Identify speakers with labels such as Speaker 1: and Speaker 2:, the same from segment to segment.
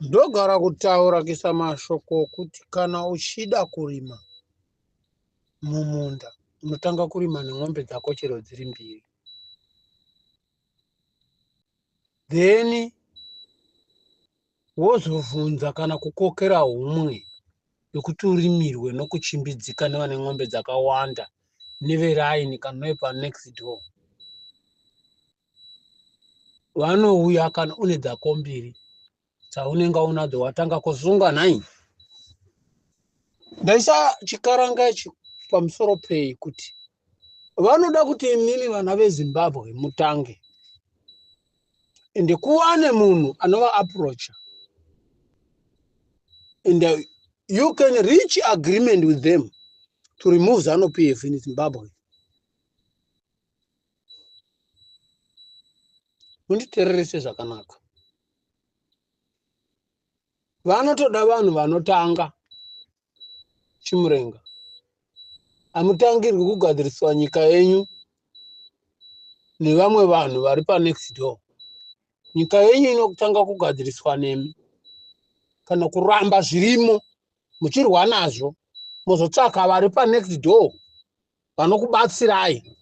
Speaker 1: ndogara kutaura kuisa mashoko okuti kana uchida kurima mumunda unotanga kurima nen'ombe dzako chero dziri mbiri then wozovhunza kana kukokera humwe yekuti urimirwe nokuchimbidzika nevane n'ombe dzakawanda neveraini kana nevepanext door vanouya kana une dzako mbiri dzaunenge unadzo watanga kusunga nhai ndaisa chikaranga ichi pamusoro pei kuti vanoda kuti imimi vana vezimbabwe mutange ende kuwane munhu anova approacha and uh, you can reach agreement with them to remove zanu pf in zimbabwe munditererese zvakanaka vanotoda vanhu vanotanga chimurenga hamutangirwi kugadziriswa nyika yenyu nevamwe vanhu vari panext door nyika yenyu inotanga kugadziriswa nemi kana kuramba zvirimo muchirwa nazvo mozotsvaka vari panext door vanokubatsirai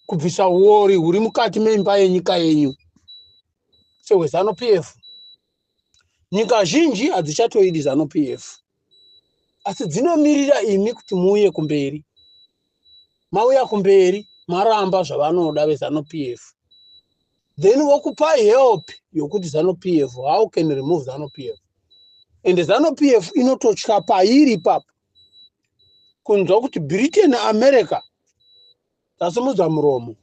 Speaker 1: kubvisa uori huri mukati meimba yenyika yenyu sehwezanu pf nyika zhinji hadzichatoidi zanu pf asi dzinomirira imi kuti muuye kumberi mauya kumberi maramba zvavanoda vezanu pf then vokupai help yokuti zanu pf how can remove zanu pf and zanu pf inototya pairi ipapo kunzwa kuti britain america dzasimudza muromo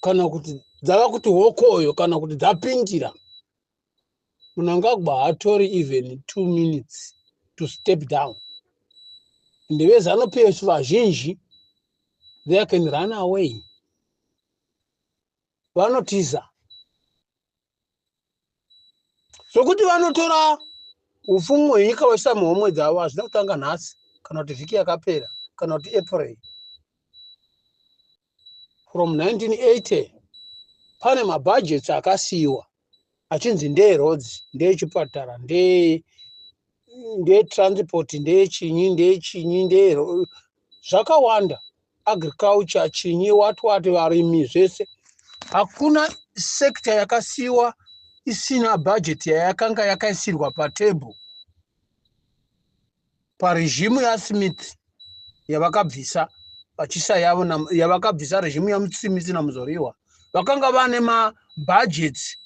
Speaker 1: kana kuti dzava kuti hokoyo kana kuti dzapindira munangagwa hatori even two minutes to step down ndevezano pf vazhinji they can run away vanotiza zvokuti vanotora upfumi hwenyika vachiisa muhomwe dzavo hazvina kutanga nhasi kana kuti vhiki yakapera kana kuti april from 1980 pane mabhajets akasiyiwa achinzi ndeeroads ndeechipatara ndee ndetransport ndechinyi ndechinyi ndee zvakawanda agriculture chinyi wati wati varimi zvese hakuna sector yakasiiwa isina budget yayakanga yakaisirwa patable paregimu yasmith yavakabvisa vachisa yavo yavakabvisa regimu yasmith namuzoriwa vakanga vane mabudgets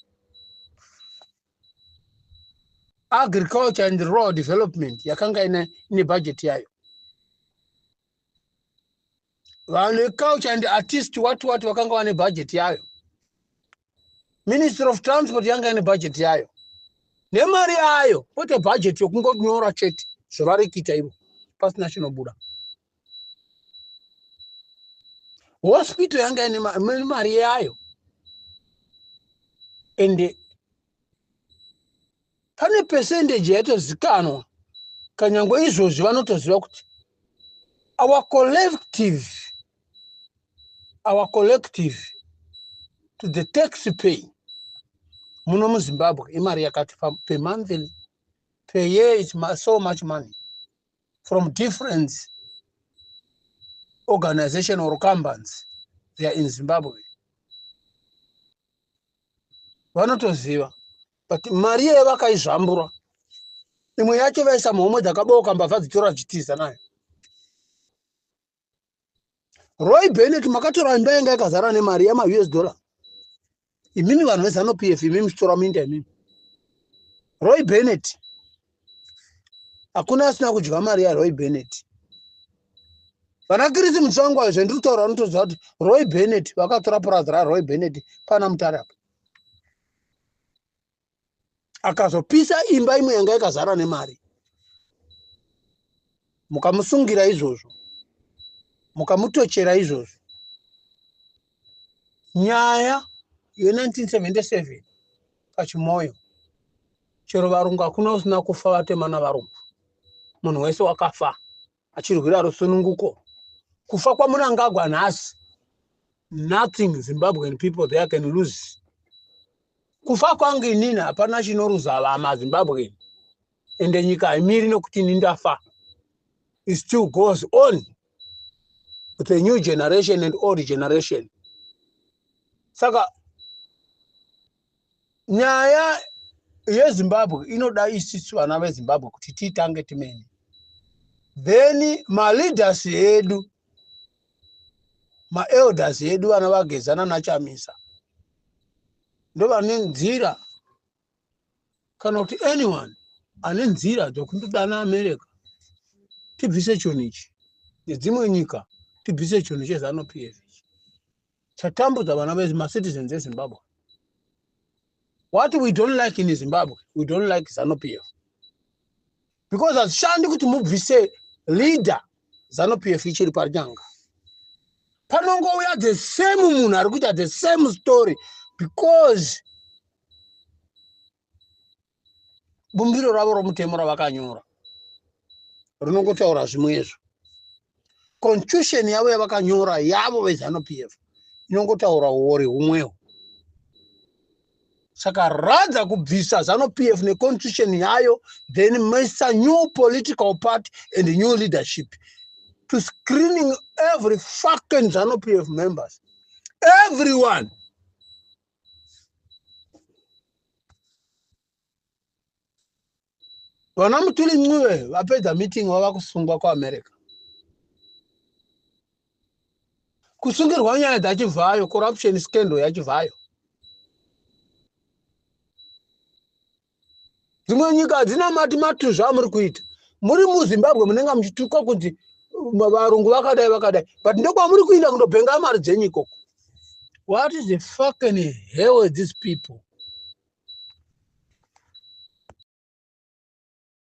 Speaker 1: agriculture and rural development yakanga ine, ine budget yayo vanhu vecouch and artist wati wati vakanga vane bhajeti yayo ministry of transport yanga ine bhajeti yayo nemari yayo kwete bhajeti yokungonyora chete zvavari kuita ivo pasina chinobuda hospital yanga ine mari yayo ende pane percentage yaitozikanwa kanyangwe izvozvi vanotoziva kuti our collective our collective to the tax pay muno muzimbabwe imari yakati pemonthly per year is so much money from different organization or companies they are in zimbabwe vanotoziva but mari iyoyo vakaizvambura imwe yacho vaisa muhomwe dzakabooka mbavha dzitora dzichitiza nayo roy benet makatora imba yanga yakazara nemari yamaus dollar imimi vanhu vezano p f imimi chitora minda imimi roy benet hakuna asina kudya mari yaroy benet vana kirisi mutsvangu ayo zvendiri kutaura vanotoziva kuti roy benet vakatora purazi raroy benet pana mutari apa akazopisa imba imwe yanga yakazara nemari mukamusungira izvozvo mukamutochera izvozvo nyaya ye1977 pachimoyo chero varungu hakuna usina kufa vatemana varungu munhu wese wakafa achirwira rusununguko kufa kwamunangagwa nhasi nothing zimbabwean people there can lose kufa kwangu inini hapana chinoruza vama zimbabwean ende nyika haimiri nokuti ini ndafa it still goes on with a new generation and old generation saka nyaya yezimbabwe inoda isisi vana vezimbabwe kuti tiitange timene then maleaders edu maelders edu vana vagezana nachamisa ndovane nzira kana kuti anyone ane nzira dzokundodana america tibvise chunhu ichi nedzimwe nyika tibvise chunhu chezanupf chatambudza vana vedu macitizens ezimbabwe what we don't like in zimbabwe we don't like zanu p f because hazvishandi kuti mubvise leader zanu p f ichiri panyanga panongouya the same munhu ari kuita the same story because bumbiro ravo romutemo ravakanyora rinongotaura zvimwezvo constitution yavo yavakanyora yavo vezanup f inongotaura uori humwewo saka rather kubvisa zanup f neconstitution yayo then misa new political party and new leadership to screening every fucking zanup f members everyone vana mutuli ncube vapedza meeting vava kusungwa kuamerica kusungirwa nyaya dzachivhayo corruption scandal yachivhayo dzimwe nyika hadzina mati matuzva amuri kuita muri muzimbabwe munenge muchitukwa kunzi varungu vakadai vakadai but ndokwamuri kuinda kundobhenga mari dzenyu ikoko what is the fucking hell with these people